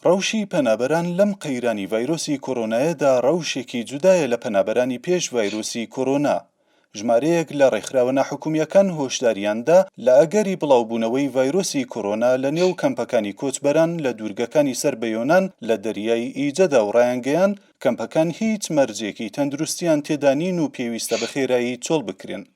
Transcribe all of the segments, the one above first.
ڕەوشی پەنابەران لەم قەیرانی ڤایرۆسی کۆرۆنایەدا ڕەوشێکی جودایە لە پەنابەرانی پێش ڤایرۆسی کۆرۆنا. ژمارەیەک لە ڕێکخراوە ناحکومییەکان هۆشداریان دا لە ئەگەری بڵاوبوونەوەی ڤایرۆسی کۆرۆنا لە نێو کەمپەکانی کۆچبەران لە دوورگەکانی سەر بە یۆنان لە دەریای ئیجەدا و ڕایانگەیاند کەمپەکان هیچ مەرجێکی تەندروستییان تێدا نین و پێویستە بەخێرایی چۆڵ بکرێن.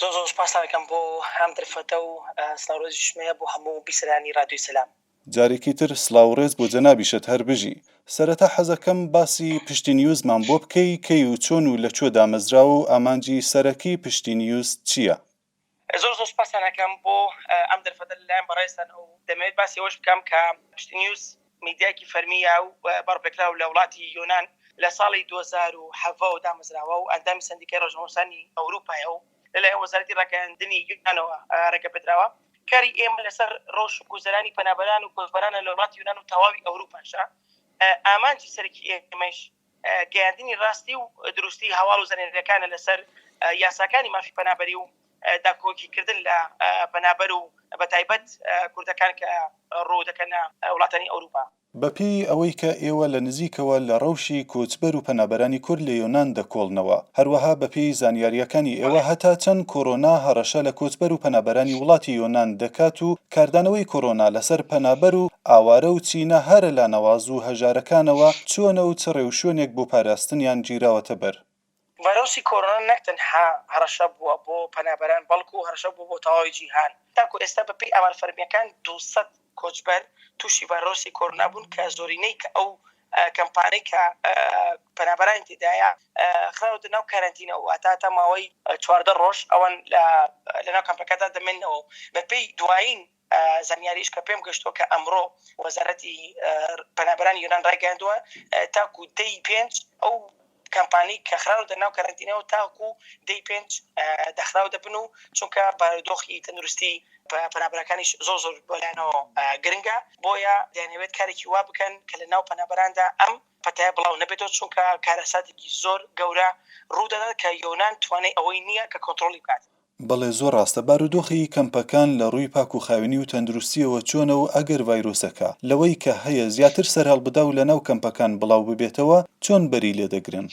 زۆر زۆر سوپاستان ئەکەم بۆ ئەم دەرفەتە و سلاو ڕێزیشم هەیە بۆ هەموو بیسەرانی ڕادیۆی سەلام. جارێکی تر سڵاوو ڕێز بۆ جەنابیشت هەر بژی. سەرەتا حەزەکەم باسی پشتی نیوزمان بۆ بکەی کەی و چۆن و لەکوێ دامەزراوە و ئامانجی سەرەکی پشتی نیوز چیە؟ زۆر زۆر سوپاستان ئەکەم بۆ ئەم دەرفەتە لەلایەن بەڕێزتانەوە و دەمەوێت باسی ئەوەش بکەم کە پشتی نیوز، میدیایەکی فەرمی و بەڕپێکراو لە وڵاتی یۆنان لە ساڵی دوو هەزار و حەڤە وە دامەزراوە و ئەندامی سەندیکای ڕۆژنامەنووسانی ئەوروپایە و لەلایەن وەزارەتی ڕاگەیاندنی یۆنانەوە ڕێگەپێدراوە. کاری ئێمە لەسەر ڕەوش و گوزەرانی پەنابەران و کۆچبەرانە لە وڵاتی یۆنان و تەواوی ئەوروپاشە، ئامانجی سەرەکی ئێمەیش، گەیاندنی راستی و دروستی هەواڵ و زنێدەکانە لەسەر یاساکانی مافی پەنابەری و داکۆکیکردن لە پەنابەر و بەتایبەت کوردەکان کە روو دەکەنە وڵاتانی ئەوروپا. بەپێی ئەوەی کە ئێوە لە نزیکەوە لە رەوشی کۆچبەر و پەنابەرانی کورد لە یۆنان دەکۆڵنەوە، هەروەها بەپێی زانیارییەکانی ئێوە هەتا چەند کۆرۆنا هەڕەشە لە کۆچبەر و پەنابەرانی وڵاتی یۆنان دەکات و کاردانەوەی کۆرۆنا لەسەر پەنابەر و ئاوارە و چینە هەرە لا نەواز و هەژارەکانەوە چۆنە و چ ڕێوشوێنێک بۆ پاراستنیان گیراوەتە بەر؟ ڤایرۆسی کۆرۆنا نەک تەنها هەڕەشە بووە بۆ پەنابەران بەڵکو هەڕەشە بووە بۆ تەواوی جیهان، تاکو ئێستا بەپێی ئامار فەرمییەکان دوو سەد کۆچبەر تووشی ڤایرۆسی کۆرۆنا بوون کە زۆرینەی کە ئەو کەمپانەی کە پەنابەرانی تێدایە خراونەتە ناو کەرەنتینەوە، واتە تا ماوەی چواردە ڕۆژ ئەوان لەناو کەمپەکەدا دەمێننەوە و بەپێی دوایین زانیاریش کە پێم گەشتووە کە ئەمڕۆ وەزارەتی پەنابەرانی یۆنان ڕایگەیاندووە تاکوو دەی پێنج ئەو کەمپانیک کە خراونەتە ناو کەرەنتینەوە تاکو دەی پێنج دەخراو دەبن و چونکە بارودۆخی تەندروستی پەنابەرەکانیش زۆر زۆر بۆ لایانەوە گرنگە بۆیە دەیانەوێت کارێکی وا بکەن کە لە ناو پەنابەراندا ئەم پەتایە بڵاو نەبێتەوە چونکە کارەساتێکی زۆر گەورە ڕوو دەدات کە یۆنان توانای ئەوەی نییە کە کۆنتڕۆڵی بکات. بەڵێ زۆر ڕاستە، بارودۆخی کەمپەکان لە ڕووی پاکوخاوێنی و تەندروستییەوە چۆنە و ئەگەر ڤایرۆسەکە لەوەی کە هەیە زیاتر سەرهەڵبدا و لەناو کەمپەکان بڵاو ببێتەوە چۆن بەری لێدەگرن؟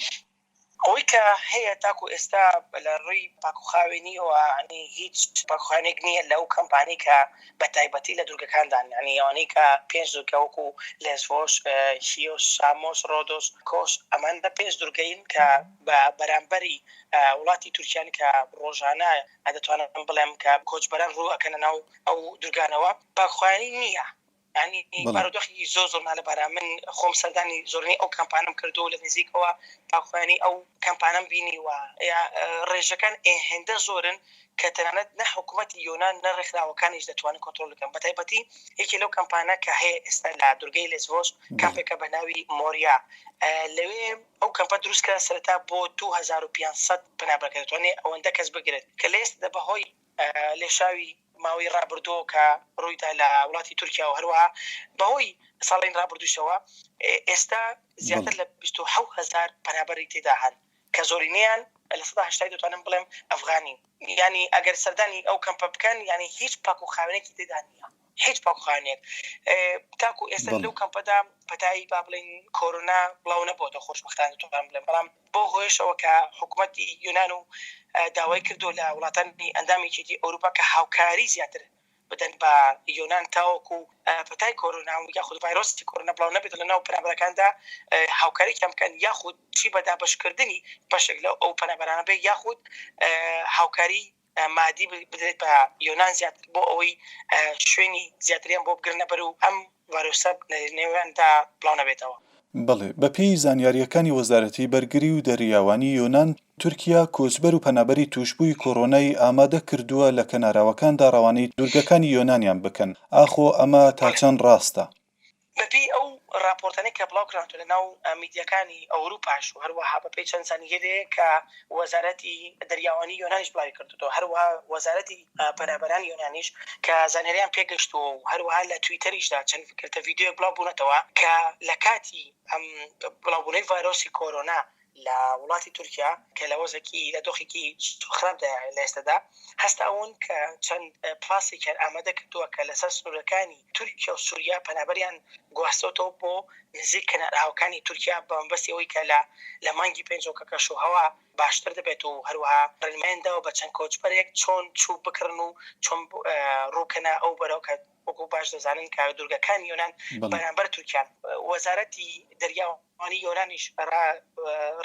ئەوەی کە هەیە تاکو ئێستا لە ڕووی پاکوخاوێنییەوە یانی هیچ پاکوخاوێنێک نییە لەو کەمپانەی کە بە تایبەتی لە دوورگەکاندان یانی ئەوانەی کە پێنج دوورگە وەکوو لێسڤۆس، کیۆس، سامۆس، ڕۆدۆس، کۆس ئەمان پێنج دوورگەین کە بە بەرامبەری وڵاتی تورکیان کە ڕۆژانە دەتوانم بڵێم کە کۆچبەران ڕوو ئەکەنە ناو ئەو دورگانەوە بە خوانی نییە یانی بارودۆخی زۆر زۆر نالەبارە من خۆم سەردانی زۆرنی ئەو کەمپانم کردو و لە نزیکەوە باخوانی ئەو کەمپانم بینی وە ڕێژەکان ئێ هێندە زۆرن کە تەنانەت نە حکوومەتی یۆناان نە ڕێکخراوەکانیش دەتوانن کۆنتترۆل بکەن بە تایبەتی یەکێ لەو کەمپانە کە هەیە ئێستا لە دورگەی لەسڤۆس کەپێکە بە ناوی مۆریا لەوێ ئەو کەمپە دروست کرا سەرەتا بۆ دوو هەزار و پێنج سەد پەنابەر کە دەتوانێ ئەوەندە کەس بگرێت کە لەئێستادا بەهۆی لێشاوی ماوەی ڕابردووەوە کە ڕوویدا لە وڵاتی تورکیا و هەروەها بەهۆی ساڵانی ڕابردووشەوە ئێستا زیاتر لە بیست و حەوت هەزار پەنابەری تێدا هەن کە زۆرینەیان لە سەدا هەشتای دەتوانم بڵێم ئەفغانین یانی ئەگەر سەردانی ئەو کەمپە بکەن یانی هیچ پاک و خاوێنێکی تێدا نییە هیچ پاکخانەیەک تاکو ئێستا لەو کەمپەدا پەتایی با بڵین کۆرۆنا بڵاو نەبووەوە خۆشبختان دەتوان بڵێن بەڵام بۆ هۆیشەوە کە حکوومەتتی یۆناان و داوای کردو لە وڵاتانی ئەندامێکیتی ئەوروپا کە هاوکاری زیاتر بدەن بە یۆناان تاوەکو پەتای کۆرۆنا و یاخود ڤایرۆستی کۆرۆنا بڵاو نەبێت لە ناو پەنابەرەکاندا هاوکاری کەمکەن یاخود چی بەدابشکردنی بەشێک لە ئەو پەنابەرانە بێ یاخود هاوکاری مادی بدرێت بە یۆنان زیاتر بۆ ئەوەی شوێنی زیاتریان بۆ بگرنە بەر و ئەم ڤایرۆسە لە نێویاندا بڵاو نەبێتەوە. بەڵێ، بەپێی زانیارییەکانی وەزارەتی بەرگری و دەریاوانی یۆنان، تورکیا کۆچبەر و پەنابەری تووشبووی کۆرۆنای ئامادە کردووە لە کەناراوەکاندا ڕەوانەی دوورگەکانی یۆنانیان بکەن، ئاخۆ ئەمە تا چەند ڕاستە؟ بەپێی ئەو ڕاپۆرتانەی کە بڵاوکراونەتەوە لە ناو میدیاکانی ئەوروپاش و هەروەها بەپێی چەند زانیارییەک کە وەزارەتی دەریاوانی یۆنانیش بڵاویکردۆتەوە هەروەها وەزارەتی پەنابەرانی یۆنانیش کە زانیاریان پێگەشتووە و هەروەها لە تویتەریشدا چەند گرتە ڤیدیۆیەک بڵاوبوونەتەوە کە لە کاتی ئەم بڵاوبوونەوەی ڤایرۆسی کۆرۆنا لە وڵاتی تورکیا کە لە وەزەکی لە دۆخێکی خراپدا لە ئێستەدا هەستاون کە چەند پلاسێکیان ئامادە کردووە کە لەسەر سنوورەکانی تورکیا و سووریا پەنابەریان گواستۆتەوە بۆ نزیک کەناراوەکانی تورکیا بە مەبەستی ئەوەی کە لە لە مانگی پێنجەوە کە کەشوهەوا باشتر دەبێت و هەروەها ڕێنمایان داوە بە چەند کۆچبەرێک چۆن چوو بکڕن و چۆن ڕووکەنە ئەو بەرەو کە وەکو باش دەزانن کە دوورگەکانی یۆنان بەرامبەر تورکیان. وەزارەتی دەریاوانی یۆنانیش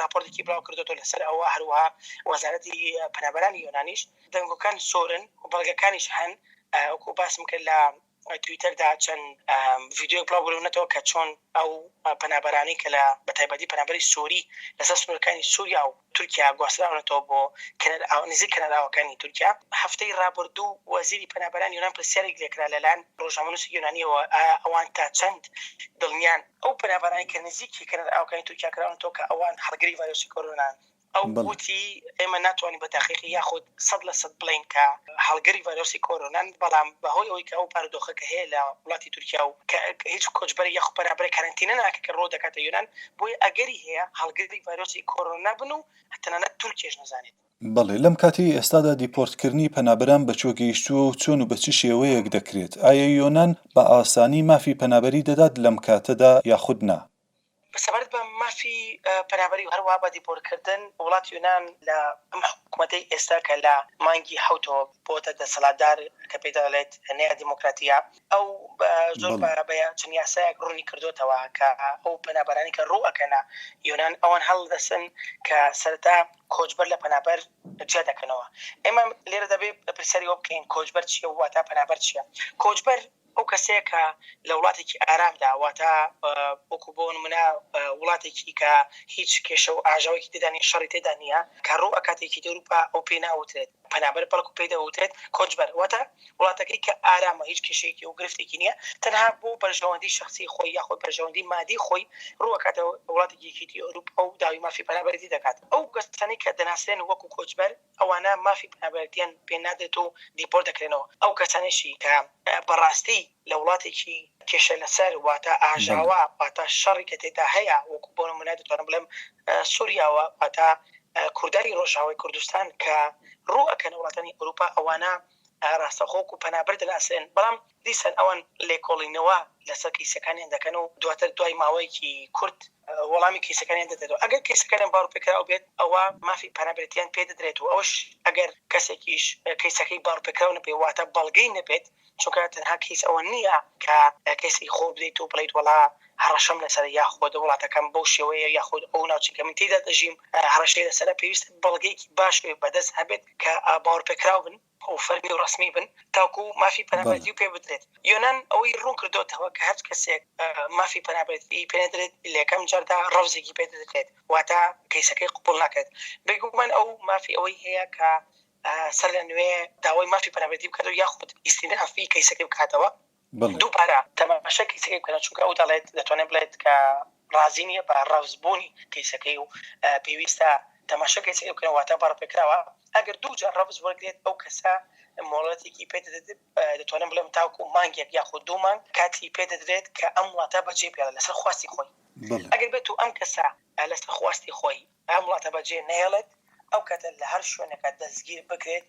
راپۆرتێکی بڵاوکردۆتەوە لەسەر ئەوە، هەروەها وەزارەتی پەنابەرانی یۆنانیش دەنگۆکان زۆرن و بەڵگەکانیش هەن، وەکو باسم کرد لە تویتەردا چەند ڤیدیۆیەک بڵاوبوونەتەوە کە چۆن ئەو پەنابەرانەی کە لە بەتایبەتی پەنابەری سۆری لەسەر سنوورەکانی سووریا و تورکیا گواستراونەتەوە بۆ کەنەرئاو نزیک کەنەرئاوەکانی تورکیا. هەفتەی رابوردوو وەزیری پەنابەرانی یۆنان پرسیارێک لێکرا لەلایەن رۆژنامەنوسی یۆنانیەوە ئایا ئەوان تا چەند دڵنیان ئەو پەنابەرانەی کە نزیکی کەنەرئاوەکانی تورکیا کراونەتەوە کە ئەوان هەڵگری ڤایرۆسی کۆرۆنان ئەو وتی ئێمە ناتوانین بە تاقیقی یاخود سەد لە سەد بڵێین کە هەڵگری ڤایرۆسی کۆرۆنان، بەڵام بەهۆی ئەوەی کە ئەو بارودۆخە کە هەیە لە وڵاتی تورکیا و کە هیچ کۆچبەرێک یاخود پەنابەرێک کەرەنتینە ناکە کە ڕوو دەکاتە یۆنان، بۆیە ئەگەری هەیە هەڵگری ڤایرۆسی کۆرۆنا بن و تەنانەت تورکیەش نەزانێت. بەڵێ، لەم کاتەی ئێستادا دیپۆرتکردنی پەنابەران بە کوێ گەیشتووە و چۆن و بە چ شێوەیەک دەکرێت؟ ئایا یۆنان بە ئاسانی مافی پەنابەری دەدات لەم کاتەدا یاخود نا؟ سەبارەت بە مافی پەنابەری و هەروەها بە دیپۆرتکردن وڵاتی یۆنان لە ئەم حکومەتەی ئێستا کە لە مانگی حەوتەوە بۆتە دەسەڵاتدار کە پێی دەڵێت نەیا دیمۆکراتییە ئەو زۆر بە بە چەند یاسایەک ڕوونی کردۆتەوە کە ئەو پەنابەرانی کە ڕوو ئەکەنە یۆنان ئەوان هەڵدەسن کە سەرەتا کۆچبەر لە پەنابەر جیا دەکەنەوە ئێمە لێرە دەبێت پرسیاری وە بکەین کۆچبەر چیە واتا پەنابەر چیە کۆچبەر ئەو کەسەیە کە لە وڵاتێکی ئارامدا، واتە وەکو بۆ نمونە وڵاتێکی کە هیچ کێشە و ئاژاوەکی تێدا نیە، شەڕی تێدا نیە، کە ڕوو ئەکات یەکێتی ئەوروپا، ئەو پێی ناوترێت پەنابەر، بەڵکو پێی دەوترێت کۆچبەر، واتە وڵاتەکەی کە ئارامە، هیچ کێشەیەکی و گرفتێکی نیە، تەنها بۆ بەرژەوەندی شەخسی خۆی یاخود بەرژەوەندی مادی خۆی ڕوو ئەکاتە وڵاتێکی یەکێتی ئەوروپا و داوی مافی پەنابەرێتی دەکات. ئەو کەسانەی کە دەناسرێن وەکو کۆچبەر، ئەوانە مافی پەنابەرێتیان پێ نادرێت و دیپۆرت دەکرێنەوە، ئەو کەسانەشی کە بە ڕاستی لە وڵاتێکی کێشە لەسەر واتە ئاژاوە واتە شەڕی کە تێدا هەیە وەکو بۆ نموونە دەتوانم بڵێم سوریاوە واتە کوردانی ڕۆژاوای کوردستان کە ڕوو ئەکەنە وڵاتانی ئەوروپا ئەوانە ئایا ڕاستەوخۆ کو پەنابەر دەناسرێن، بەڵام دیسان ئەوان لێکۆڵینەوە لەسەر کەیسەکانیان دەکەن و دواتر دوای ماوەیەکی کورت وەڵامی کەیسەکانیان دەدەنەوە، ئەگەر کەیسەکانیان باڕوپێکراو بێت ئەوا مافی پەنابەرێتیان پێ دەدرێت و ئەوەش ئەگەر کەسێکیش کەیسەکەی باڕوپێکراو نەبێت واتە بەڵگەی نەبێت، چونکە تەنها کەیس ئەوە نییە کە کەیسەکی خۆت بدەیت و بڵێیت وەڵا هەڕەشەم لەسەرە یاخود وڵاتەکەم بەو شێوەیە یاخود ئەو ناوچەی کە من تێیدا دەژیم هەڕەشەی لەسەرە، پێویستە بەڵگەیەکی باش بەدەست هەبێت کە باوەڕپێکراو بن و فەرمی و ڕەسمی بن تاکو مافی پەنابەرێتی پێ بدرێت. یۆنان ئەوەی ڕوون کردۆتەوە کە هەچ کەسێک مافی پەنابەرێتی پێ نەدرێت لەکەم جاردا ڕەفزێکی پێ دەدرێت واتە کەیسەکەی قبوڵ ناکرێت. بێگومان ئەو مافی ئەوەی هەیە کە سەرلەنوێ داوای مافی پەنابەرێتی بکاتەوە یاخود ئیستینافی کەیسەکەی بکاتەوە. دووبارە تەماشای کەیسەکەی بکەنەوە، چونکە ئەو دەڵێت، دەتوانێت بڵێت کە ڕازی نییە بە ڕەفزبوونی کەیسەکەی و پێویستە تەماشای کەیسەکەی بکەنەوە، واتە بە ڕفێکراوە ئەگەر دوو جار ڕەفز وەرگرێت، ئەو کەسە مۆڵەتێکی پێ دەدرێت، دەتوانم بڵێم تاوەکو مانگێک یاخود دوو مانگ کاتی پێ دەدرێت کە ئەم وڵاتە بەجێبهێڵێت لەسەر خواستی خۆی. ئەگەر بێتوو ئەم کەسە لەسەر خواستی خۆی ئەم وڵاتە بەجێ نەهێڵێت، ئەو کاتە لە هەر شوێنێکا دەستگیر بکرێت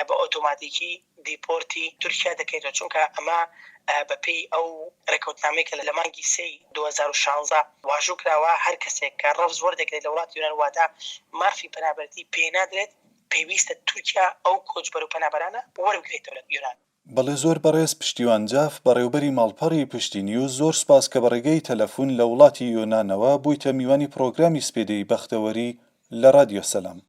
بە ئۆتۆماتیکی دیپۆرتی تورکیا دەکرێتەوە، چونکە ئەمە بە پێی ئەو رێکەوتنامەی کە لە مانگی سێی دوو هەزار و شازدە واژوو کراوە، هەر کەسێک کە رەفز وەردەگرێت لە وڵاتی یۆنان واتە مافی پەنابەرتی پێ نادرێت، پێویستە تورکیا ئەو کۆچبەر و پەنابەرانە وەربگرێتەوە لە یۆنان. بەڵێ زۆر بەڕێز پشتیوان جاف بەڕێوبەری ماڵپەڕی پشتی نیوز زۆر سوپاس کە بەڕێگەی تەلەفون لە وڵاتی یۆنانەوە بویتە میوانی پڕۆگرامی سپێدەی بەختەوەری لە رادیۆ سەلام.